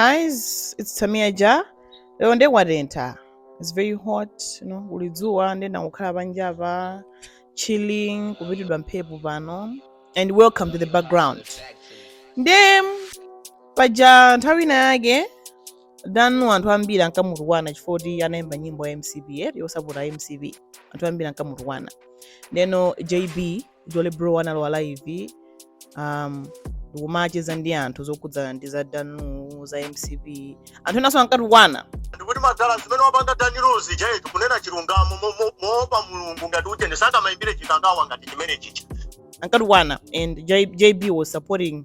guys it's Tamia Ja lero nde kwatentha it's very hot you know kuli dzuwa nde ndangokhala panjapa chilling kupitidwa mphepo pano and welcome to the background nde paja nthawi ina yake Dan Lu anthu ambiri ankamutukwana chifukwa kuti anayimba nyimbo ya mcp yosapota mcp anthu ambiri ankamutukwana ndeno jb jolly bro analowa live um, ndikumacheza ndi anthu zokhudzana ndi za Dan Lu za mcp anthu enaso ankatukwana ndikuti madala zimene wapanga Dan Lu zije kunena chilungamo mo- mo- moopa mulungu ngati uchende sangamayimbire chikangawa ngati chimene chija ankatukwana and J- jb was supporting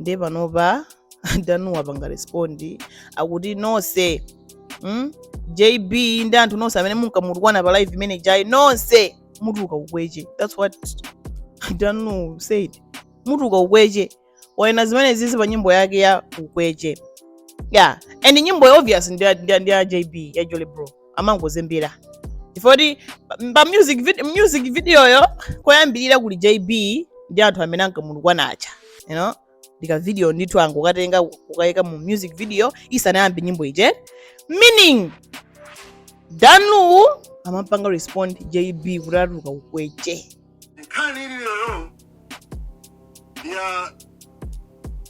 ndiye panopa Dan Lu wapanga respond akuti nonse mm? jb ndi anthu nonse amene munkamutukwana pa live imene ijayi nonse mutuluka ukweche that's what Dan Lu said mutuluka ukweche wanena zimenezizi pa nyimbo yake ya ukweche yeah and nyimboyo obvious ndi ya- ndi ya ndi ya jb ya jolly bro amangozembera chifukwa kuti pa- pa music video, music videoyo koyambirira kuli jb ndi anthu amene ankamutukwana aja you know ndi ka video ndithu angokatenga kukayika mu music video isanayambe nyimbo ije meaning Dan Lu amapanga respond jb kuti atuluka ukweche nkhani ili lero ya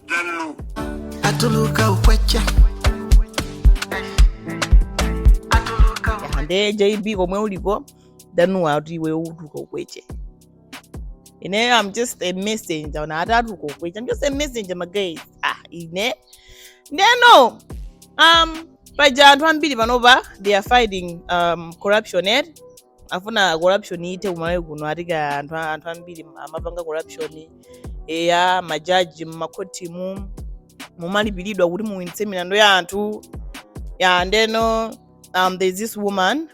danlu atuluka ukwecha atuluka ukwecha nde jb komwe uliko danuwa ati iwe utuka ukweche ine i'm just a messenger na ati atuka ukweche i'm just a messenger my guys ah ine ndeno um paja anthu ambiri panopa they are fighting um corruption ed afuna corruption ithe kumalawi kuno atika anthu a- anthu ambiri amapanga corruption eya majaji mmakhotimu mumalipiridwa kuti muwinitse milandu ya anthu ya ndeno um, there's this woman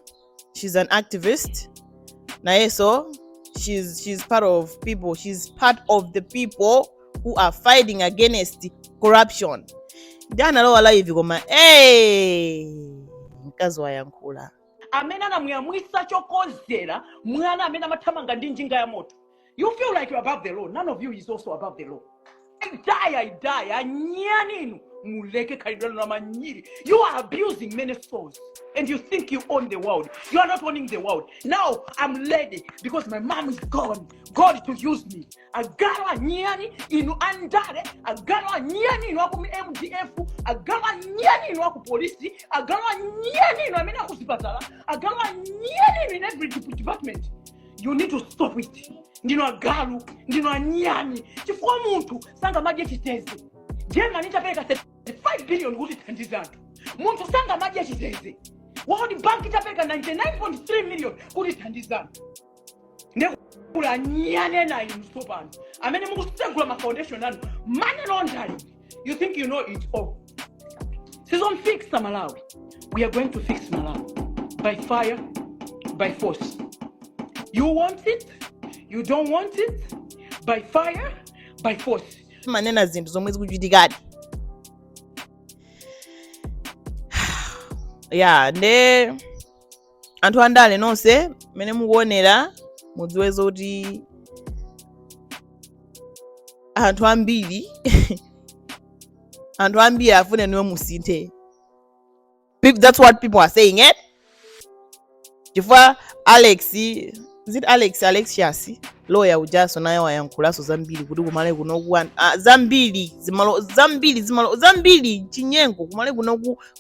she's an activist nayeso she's, she's part of people she's part of the people who are fighting against corruption nde analowa live koma hey, mkazi wayankhula amene anamuyamwisa chokozera mwana amene amathamanga ndi njinga ya moto you feel like you're above the law none of you is also above the law i die i die anyani inu muleke khalidwe lanu lamanyiri you are abusing many souls and you think you own the world you are not owning the world now i'm ready because my mom is gone god to use me agalu anyani inu andale agalu anyani inu aku mdf agalu anyani inu aku polisi agalu anyani inu amene akuzipatala agalu anyani inu in every dep- department you need to stop it ndinu agalu ndinu anyani chifukwa munthu sangamadye chitedze germany itapereka 35 billion kuti ithandize anthu munthu sangamadye chitedze world bank itapereka 99.3 million kuti ithandize anthu nde kuli anyani ena inu tsopano amene mukusegula ma foundation anu money laundering you think you know it all tizamfixa malawi we are going to fix malawi by fire by force you want it you don't want it by fire by force amanena zinthu zomwe zikuchitikadi ya nde anthu andale nonse mmene mukuonera mudziwe zoti anthu ambiri anthu ambiri akufuna inu musinthe Peop- that's what people are saying eh? chifukwa alex is it alex alex shasi loya ujanso naye wayankhulanso zambiri kuti kumalawi kunoku an- ah, zambiri zimalo zambiri zimalo zambiri chinyengo kumalawi kunoku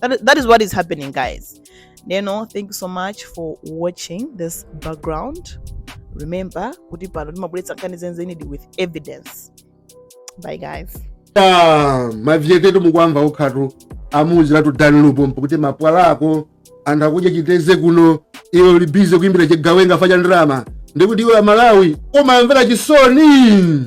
that, that is what is happening guys ndiyeno thank you so much for watching this background remember kuti pano timabweretsa nkhani zenizenidi with evidence bye guys ah, mavyetetu mukuwamva ukhatu amuuziratu danlupo mpukuti mapwala ako anthu akudya chiteze kuno iwe uli busy kuimbira chigawenga chifukwa cha ndalama ndikuti iwe amalawi umawamvera chisoni